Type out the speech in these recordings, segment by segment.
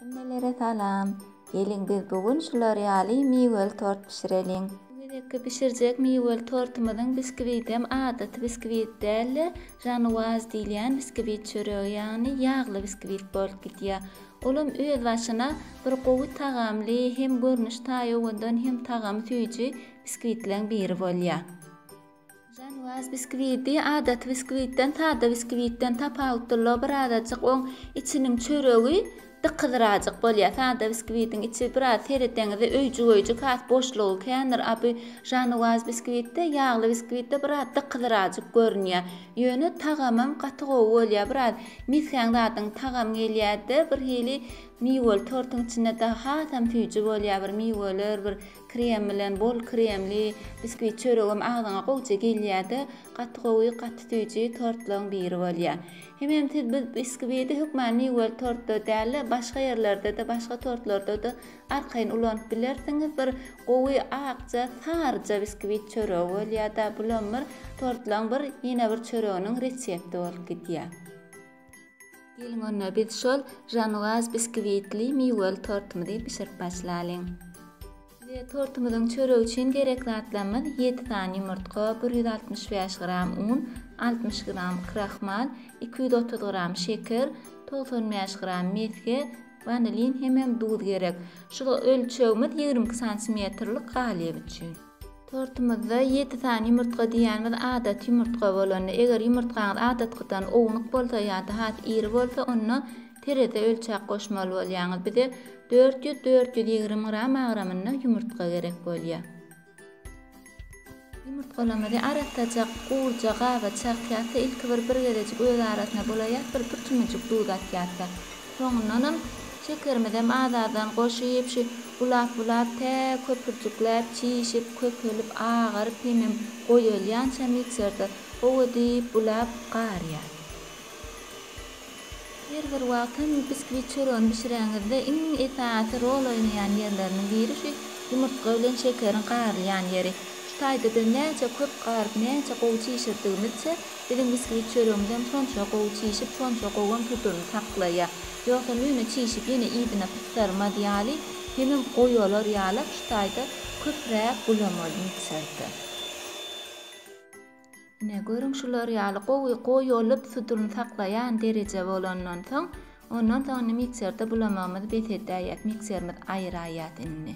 Hemmelere salam. Geliň biz bu gün şular ýaly miweli tort bişireliň. Bu gezekki bişirjek miweli tortumyzyň biskwitem adaty biskwit däl-de, žanuwaz diýilýän biskwit çöregi, ýagny ýagly biskwit bolup gidýär. Olam öz başyna bir gowy tagamly, hem görnüş taýowandan hem tagamy süýji biskwitleň biri bolýar. Žanwaz biskwiti adaty biskwitden sada biskwitden tapawutlylygy birazajyk oň içiniň çöregi dykyzrajyk bolýar. Sada biskwitiň içi biraz sereseňizde öýjügeýjik has boşlugy kändir, a bu žanwaz biskwitde ýagly biskwitde biraz dykyzrajyk görünýär. Ýöne tagamam gaty gowy bolýar. Biraz misgäň zadyň tagamy gelýärde birhili miweli tortuň içinde dagy hasam süýji bolýar bir miweler bir Krem bilen bol kremli biskwit çöregem agzyňa gowja gelýärde gaty gowy gaty süýji tortlaň biri bolýar. Hemem siz bu biskwidi hökman miweli tortda dälde başga ýerlerdede başga tortlardada arkaýyn ulanyp bilersiňiz bir gowy akja saryja biskwit çöregi bolýarda bulam bir tortlaň bir ýene bir çöreginiň resepti bolup gidýär. Geliň onda biz şol Žanwaz biskwiitli miweli tortymyzy bişirip başlalyň. Bize tortymyzyň çöregi üçin gerek zatlarymyz ýedi sany ýumurtga, bir ýüz altmyş bäş gram un, altmyş gram krahmal, iki ýüz otuz gram şeker, togsan bäş gram mesge, wanilin hemem duz gerek. Şul ölçegimiz ýigrimi iki santimetrlik galyp üçin. Tortumyzda ýedi sany ýumurtga diýýänimiz adaty ýumurtga bolanda, eger ýumurtgaňyz adatkydan ownuk bolsa ýa-da has iri bolsa, onda terezä ölçäp goşmaly bolýaňyz. Bize dört ýüz, dört ýüz ýigrimi gram agramynda ýumurtga gerek bolýar. Ýumurtgalarymyzy aratajak gurja gaba çakýarka ilki bir bir gezejik öz arasyna bulaýarys, bir bir çümüjik duz atýarys. Soňundanam Şekerimizem az-azdan goşup, şu bulap-bulap, tä köpürjikläp, çişip, köpelip, agaryp hemem goýalýança mikserde gowy edip bulap, garýar. Her bir wagt hem biskwit çöregini bişireňizde iň esasy rol oýnaýan ýerleriniň biri şu ýumurtga bilen şekeriň garylýan ýeri. Şu taýda biz näçe köp garyp, näçe gowy çişirdigimizçe, Biziň biskvit çöregimizem şonça gowy çişip, şonça gowam tuturyny saklaýa. Ýogsam ýöne çişip ýene yzyna pyssarmaz ýaly, hemem goýalar ýalak şu taýda köpräk gulamalymy içerde. Ine, görüň şular ýaly gowy goýalyp tuturyny saklaýan dereje bolandan soň, ondan soň indi mikserde bulamagymyzy bes edäýýäs, mikserimiz aýraýýas indi.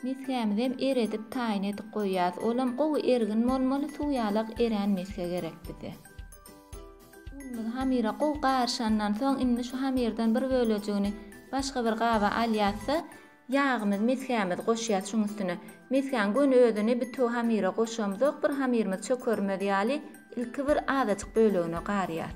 Mesgämizem eredip taýyn edip goýýas. Olam gowy ergin bolmaly, suw ýalak erän mesge gerek bize. Unumyzy hamyra gowy garyşandan soň indi şu hamyrdan bir bölejigini başga bir gaba alýas-da, ýagymyz, mesgämizi goşýas şuň üstüne. Mesgäň göni özüni bütew hamyra goşamzok, bir hamyrymyz çökermez ýaly ilki bir azajyk bölegine garýas.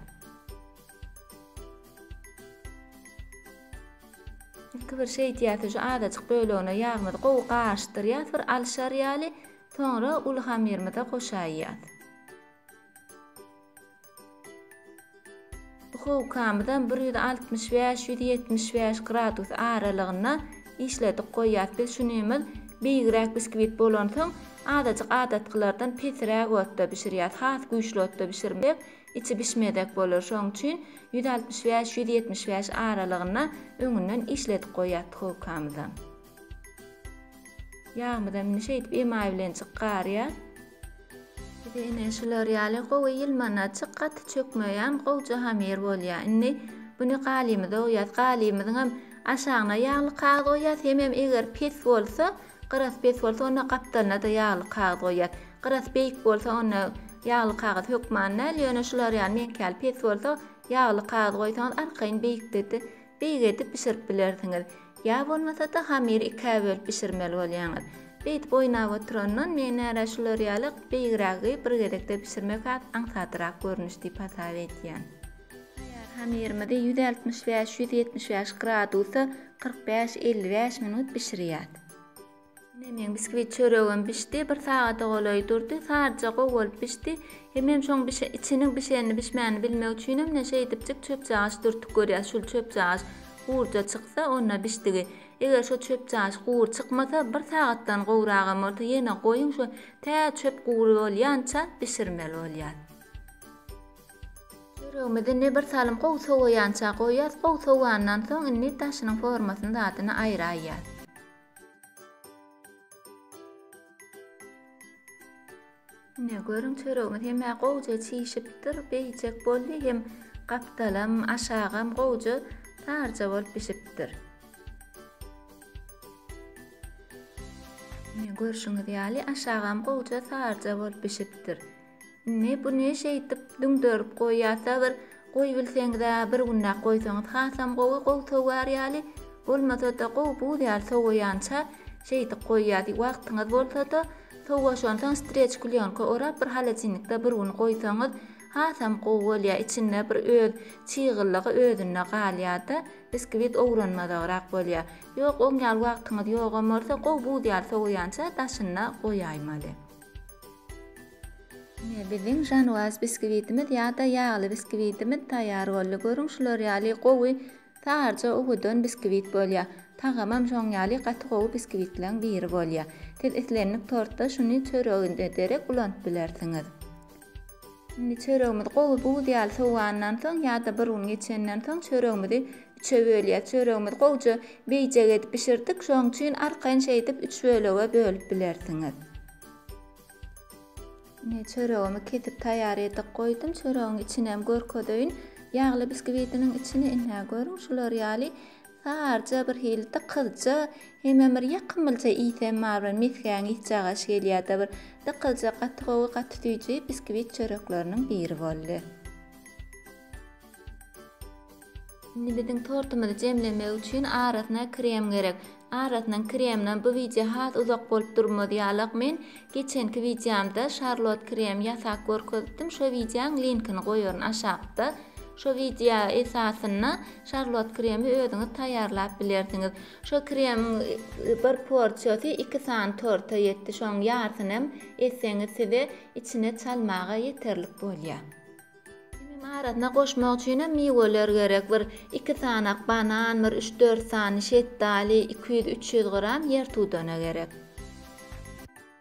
Ilki bir şeýdýärsiň, şu azajyk bölegine ýagymyzy gowy garyşdyrýas bir alyşar ýaly, soňra uly hamyrymyza goşaýýas. Duhowkamyzam bir ýüz altmyş bäş, ýüz ýetmiş bäş gradus aralygynda işledip goýýas. Biz şunymyz beýigräk biskwit bolansoň, azajyk adatkylardan pesiräk otda bişirýäs, has güýçli otda bişirmesek, Içi bişmezek bolar şoň üçin ýüz altmyş bäş ýüz ýetmiş bäş aralygynda öňünden işledik goýýas duhowkamyza. Ýagmyzam indi şeýdip emaý bilen çyk garýa. Bize ine şular ýaly gowy ýylmanaçyk gaty çökmeýän gowja hamir bolýa. Indi buni galymyza oýas. Galymyzyňam aşagyna ýagly kagyz oýas hemem eger pes bolsa Gyrasy pes bolsa, onda gapdalyna-da ýagly kagyz goýýas. Gyrasy beýik bolsa, onda ýagly kagyz hökman däl, ýöne şular ýaly meňkäli pes bolsa, ýagly kagyz goýsaňyz, arkaýyn beýikde-de beýik edip bişirip bilersiňiz. Ýa bolmasa-da, hamyry ikä bölüp bişirmeli bolýaňyz. Beýdip oýnap oturandan, menärä şular ýaly beýigrägi bir gezekde bişirmek has aňsadrak görnüş diýip hasap edýän. Taýýar hamyrymyzy ýüz altmyş bäş, ýüz ýetmiş bäş gradusa kyrk bäş, elli bäş minut bişirýäs. Ine meň biskvit çöregim bişdi. Bir sagada golaý durdy. Saryja gowy bolup bişdi. Hemem şoň bişe, içiniň bişenini, bişmänini bilmek üçinem ine şeýdipjik çöpjagaç dürtüp görýäs. Şul çöpjagaç gurja çyksa, onda bişdigi. Eger şo çöpjagaç gury çykmasa, bir sagatdan gowragam bolsa ýene goýuň, şo tä çöp gury bolýança bişirmeli bolýar. Çöregimizi ne bir salym gowy sowaýança goýýas, gowy sowandan soň indi daşynyň formasyny zadyny aýraýýas. Ine görüň çöregimiz hemä gowja çişipdir, beýjek boldy hem gapdalam, aşagam gowja tarja bolup bişipdir. Ine görşüňiz ýaly aşagam gowja tarja bolup bişipdir. Indi bu ne şeýdip düňderip goýýar Sabyr goýbilseňizä bir günläp goýsaňyz hasam gowy gowy sowyar ýaly bolmasada gowy buz ýaly sowaýança şeýdip goýýar wagtyňyz bolsada sowaşansoň streç klýonka orap bir halacinnikde bir gün goýsaňyz hasam gowy bolýar içinde bir öz çygyllygy özünde galýarda biskwit owranmazagrak bolýar ýok oň ýaly wagtyňyz ýogam bolsa gowy buz ýaly sowaýança daşyna goýaýmaly. Ine, biziň žanwaz biskwitimiz ýa-da ýagly biskwitimiz taýýar boldy. Görüň, şular ýaly gowy, saryja owadan biskwit bolýar. Tagamam şoň ýaly gaty gowy biskwitleriň biri bolýar. Siz islendik tortda şuny çöreginize derek ulanyp bilersiňiz. Indi çöregimizi gowy buz ýaly sowandan soň ýa-da bir gün geçenden soň çöregimizi üçe bölýäs. Çöregimizi gowja beýjek edip bişirdik. Şoň üçin arkaýyn şeýdip üç bölege bölüp bilersiňiz. Ine çöregimi kesip taýýar edip goýdum. Çöregiň içini hem görkezeýin. Ýagly biskibidiniň içini ine görüň şular ýaly Saryja, birhili dykyzja, hemem bir ýakymlyja isem bar, bir mesgäň isjagaşy gelýärdi. Bir dykyzja, gaty gowy, gaty süýji biskwit çörekleriniň biri boldy. Indi biziň tortumyzy jemlemek üçin arasyna krem gerek. Arasynyň kreminem bu wideo has uzak bolup durmaz ýalak. Men Geçenki wideomda şarlot krem ýasap görkezipdim şo wideoň linkini goýaryn aşakda şo wideo esasynda şarlot kremi özüňiz taýýarlap bilersiňiz şo kremiň bir porsiýasy iki sany torta ýetdi şoň ýarysynam etseňiz size içine çalmaga ýeterlik bolýar. Kimim arasyna goşmak üçinem miweler gerek, bir iki sanak banan, bir üç-dört sany şetdali, iki ýüz, üç ýüz gram ýertudana gerek.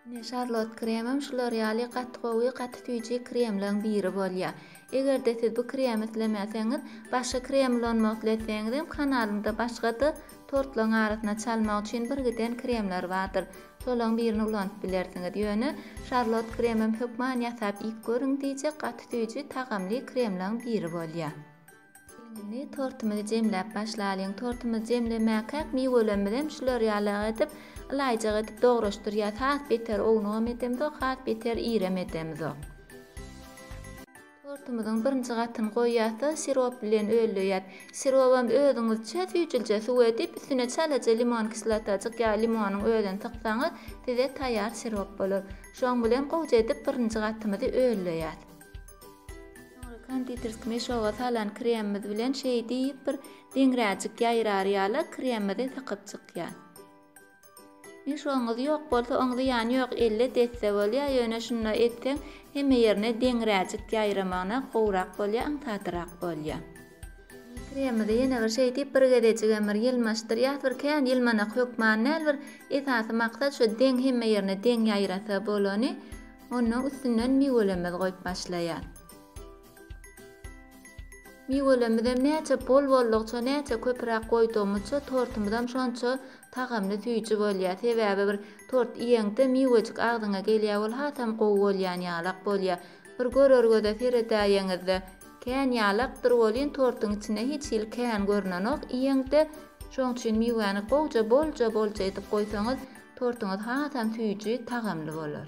Ine, şarlot kremim şular ýaly gaty gowy, gaty süýji kremleň biri bolýar. Eger-de siz bu kremi islemeseňiz, başga krem ulanmak isleseňizem, kanalymda başga-da tortlaryň arasyna çalmak üçin birgiden kremler bardyr. Şolaň birini ulanyp bilersiňiz. Ýöne Şarlot kremem hökman ýasap iýip görüň diýjek gaty süýji, tagamly kremlaň biri bolýa. Indi tortumyzy jemläp başlalyň. Tortumyzy jemlemäkäk miwelemizem şular ýalak edip, ylaýjak edip dograşdyrýas. Has beter ownugam edemzok, has beter irem edemzok. Tortumyzyň birinji gatyny goýýas-da, sirop bilen ölleýäs. Sirobam özüňizçe süýjülje suw edip, üstüne çalaja limon kislotajyk ýa limonyň özüni syksaňyz, size taýýar sirop bolar. Şoň bilen gowja edip birinji gatymyzy ölleýäs. Soňra konditerski meşoga salan kremimiz bilen şeýdip bir deňräjik ýaýrar ýala kremimizi sykyp çykýas. Nişoňyz ýok bolsa oň zyýany ýok elle desse bolýa ýöne şunda etseň hemme ýerine deňräjik ýaýramagyna gowrak bolýa aňsatrak bolýa. Indi kremimizi ýene bir şeýdip bir gezejigem bir ýylmaşdyrýas bir kän ýylmanak hökman däl bir esasy maksat şu deň hemme ýerine deň ýaýrasa bolany onnoň üstünden miwelemez goýup başlaýas. Miwelemizem näçe bol boldukça, näçe köpüräk goýdugymyzça tortumyzam şonça tagamly süýji bolýar. Sebäbi bir tort iýeňde miwejik agzyňa gelýär ol hasam gowy bolýan ýalak bolýar. Bir görergede seredäýeňizde kän ýalakdyr welin tortuň içinde hiç hili kän görnenok iýeňde. Şoň üçin miwäni gowja bolja bolja edip goýsaňyz tortuňyz hasam süýji, tagamly bolar.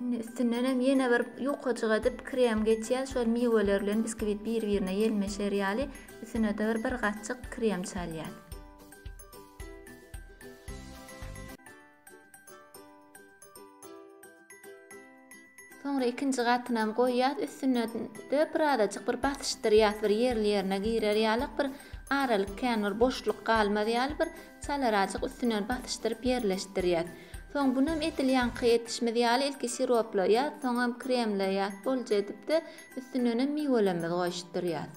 Indi üstünden hem ýene bir ýukajyk edip krem geçýär. Şol miweler bilen biskvit bir-birine ýelmeşer ýaly üstüne-de bir bir gatjyk krem çalýar. Soňra ikinji gatyny hem goýýar. Üstüne de bir azajyk bir basyşdyrýar, bir ýerli ýerine girer ýaly, bir aralyk kän bir boşluk galmaz ýaly bir Çalarazjyk üstünden basyşdyryp ýerleşdirýäs. Soň bunem edil ýaňky edişimiz ýaly ilki siroplaýas, soňam kremleýas, bolja edipde üstündenem miwelemmiz goýuşdyrýas.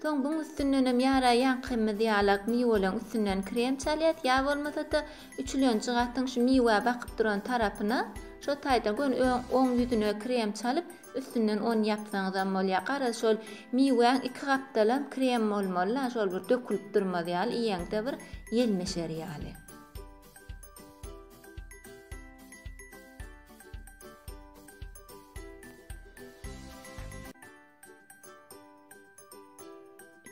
Soň buň üstündenem ýara ýaňkymyz ýalak miweleň üstünden krem çalýas ýa bolmasada üçülenji gatyň şu miwä bakyp duran tarapyna şo taýdan göni öň oň ýüzüne krem çalyp Üstünden on ýapsaňyzam bolýar. Garaz, şol miwäň iki gapdalam krem bolmaly-la, şol bir dökülip durmaz ýaly, iýeňde bir ýelmeşer ýaly.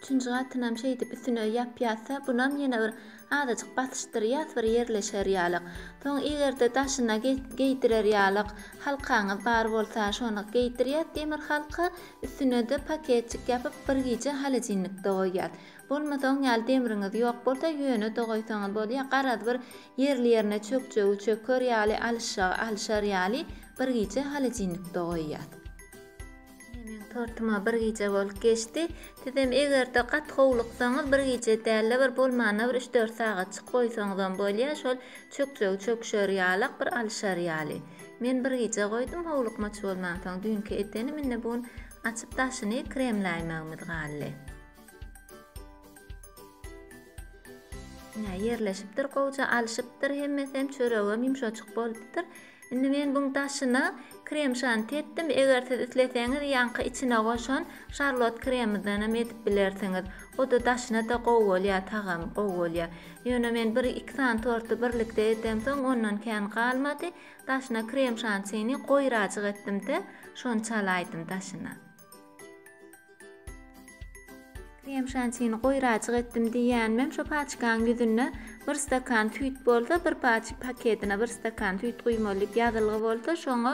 Üçünji gatynam şeýdip üstüne ýapýasda, bunam ýene bir azajyk basyşdyrýas bir ýerleşer ýalyk. Soň eger-de daşyna geýdirer ýalyk halkaňyz bar bolsa, şony geýdirýäs demir halka, üstüne-de paketjik ýapyp bir gije holodilnikde goýýas. Bolmasa oň ýaly demriňiz ýok bolsa, ýöne-de goýsaňyz bolýar, garaz bir ýerli-ýerine çökjegi çöker ýaly, alyşjagy alyşar ýaly bir gije holodilnikde goýýas. Meň tortuma bir gije bolup geçdi. Sizem egerde gaty howluksaňyz bir gije dälde bir bolmanda bir üç dört sagatjyk goýsaňyzam bolýa şol çökjegi çöküşer ýalak bir alyşar ýaly. Men bir gije goýdum howlukmaç bolmansoň düýnki edenim indi bu gün açyp daşyny kremläýmegimiz galdy. Ine ýerleşipdir gowja alyşypdyr hemmesem çöregem ýumşajyk bolupdyr. Indi men buň daşyna krem şanti etdim, eger siz isleseňiz ýaňky içine goşan şarlot kremydanam edip bilersiňiz. O-da daşyna-da gowy bolýar, tagamy gowy bolýar. Ýöne men bir iki sany torty birlikde edemsoň ondan kän galmady, daşyna krem şantini goýrajyk etdim-de, şony çalaýdym daşyna. Krem şantini goýrajyk etdim diýýänimem şo paçkanyň ýüzünde bir stakan süýt bolsa, bir paçka paketine bir stakan süýt guýmaly diýip ýazylgy bolsa, şoňa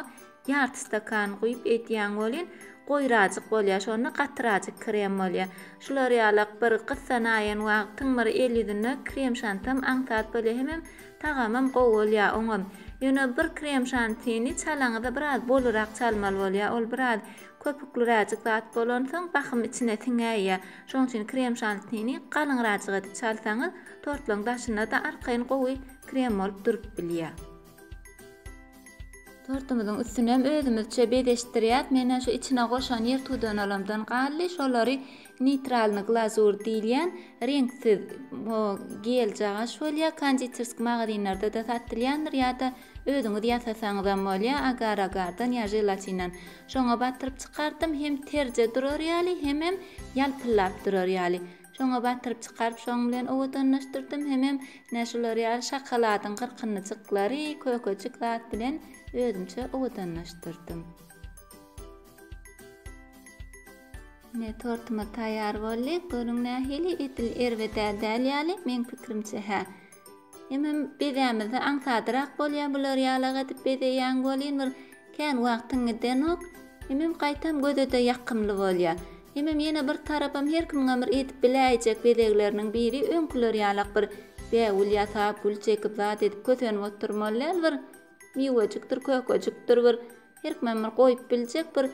ýarty stakan guýup eýdýän welin, goýrajyk bolýar. Şonda gatyrajyk krem bolýar. Şular ýalak bir gyssanaýan wagtyň bir el ýüzünde krem şantam aňsat bolýar. Hemem Tagamam gowy bolýar oňam. Ýöne bir krem şantini çalaňyzda biraz bolurak çalmaly bolýar. Ol biraz köpükliräjik zat bolansoň bahym içine siňäýýär. Şoň üçin krem şantini galyňrajyk edip çalsaňyz tortlaryň daşynda-da arkaýyn gowy krem bolup durup bilýär. Tortumyzyň üstüni hem özümizçe bezeşdirýäs. Mena şu içine goşan ýer tudanalamdan galdy. Şolary neytralny glazur diýilýän reňksiz o geljagaş bolýar. Konditersk magazinlerde de satylýandyr ýa-da özüňiz ýasasaňyz hem bolýar. Agar agardan ýa želatinden. Şoňa batyryp çykardym. Hem terje durar ýaly, hemem ýalpyllap durar ýaly. Şoňa batyryp çykaryp şoň bilen owadanlaşdyrdym hemem ine şular ýaly şokoladyň gyrkynlyjyklary kökejik zat bilen özümçe owadanlaşdyrdym. Ine tortumyz taýýar boldy. Görüň nähili edil erbedä däl ýaly meň pikirimçe hä. Hemem bezämizde aňsadyrak bolýar, bular ýalak edip bezeýäň welin bir kän wagtyň gidenok. Hemem gaýtam göze-de ýakymly bolýar. Hemem ýene bir tarapam her kimiňem bir edip biläýjek bezegleriniň biri öňküler ýalak bir bägül ýasap, gül çekip zat edip kösenip oturmaly däl, bir miwejikdir, kökejikdir bir Herkimem bir goýup biljek bir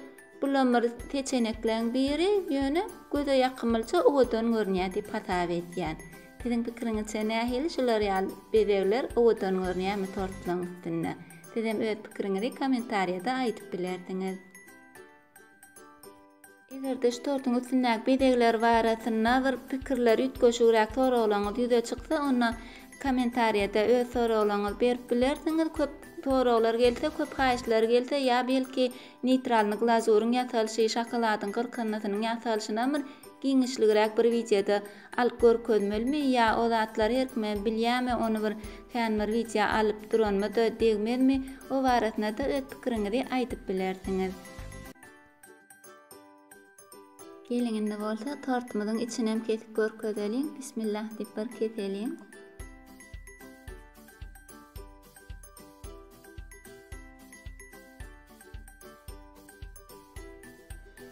bulam bir peçenekleň biri ýöne göze ýakymlyja owadan görünýä diýip hasap edýän. Siziň pikiriňizçe nähili şular ýaly bezegler owadan görünýämi tortlaň üstünde? Sizem öz pikiriňizi kommentariýada aýdyp bilersiňiz. Eger-de şu tortuň üstündäki bezegler barasynda bir pikirler, üýtgeşigräk soraglaryňyz ýüze çyksa, onda kommentariýada öz soraglaryňyzy berip bilersiňiz. Köp soraglar gelse, köp haýyşlar gelse, ýa belki neýtralny glazuryň ýasalyşy, şokoladyň gyrkyndysynyň ýasalyşynam bir giňişligräk bir wideoda alyp görkezmelimi, ýa o zatlary her kime bilýäme, ony bir kän bir wideo alyp duranyma-da degmezmi, o barasynda-da öz pikiriňizi aýdyp bilersiňiz. Geliň indi bolsa tortumyzyň içinem kesip görkezeliň. Bismillah diýip bir keseliň.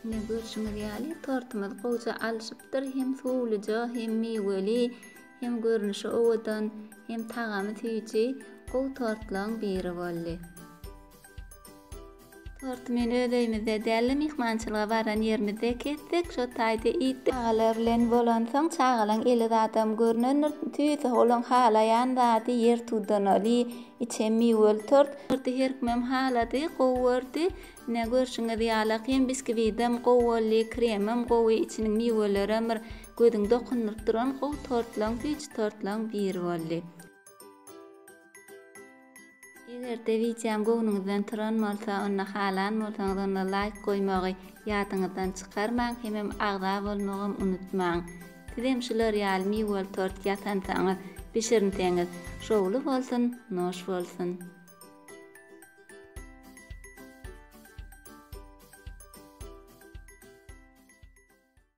Ine görşüňiz ýaly tortumyz gowja alşypdyr. Hem suwluja, hem miweli, hem görnüşi owadan, hem tagamy süýji gowy tortlaryň biri boldy. Tortymyny öz öýümizde däl-de myhmançylyga baran ýerimizde kessek, şo taýda iýdik. Çagalar bilen bolansoň, çagalaň eli zadam görnendir. Tüýs-ä olaň halaýan zady ýer tudanaly, içem miweli tort. Torty her kimem halady, gowy gördi. Ine, görşüňiz ýaly-a hem biskwitem gowy boldy, kremem gowy, içiniň miwelerem bir gözüňi dokundyryp duran gowy tortlaryň, süýji tortlaryň biri boldy. Eger-de wideom göwnüňizden turan bolsa, onda halan bolsaňyz onda laýk goýmagy ýadyňyzdan çykarmaň, hemem agza bolmagam unutmaň. Sizem şular ýaly miweli tort ýasansaňyz, bişirinseňiz, şowly bolsun, noş bolsun!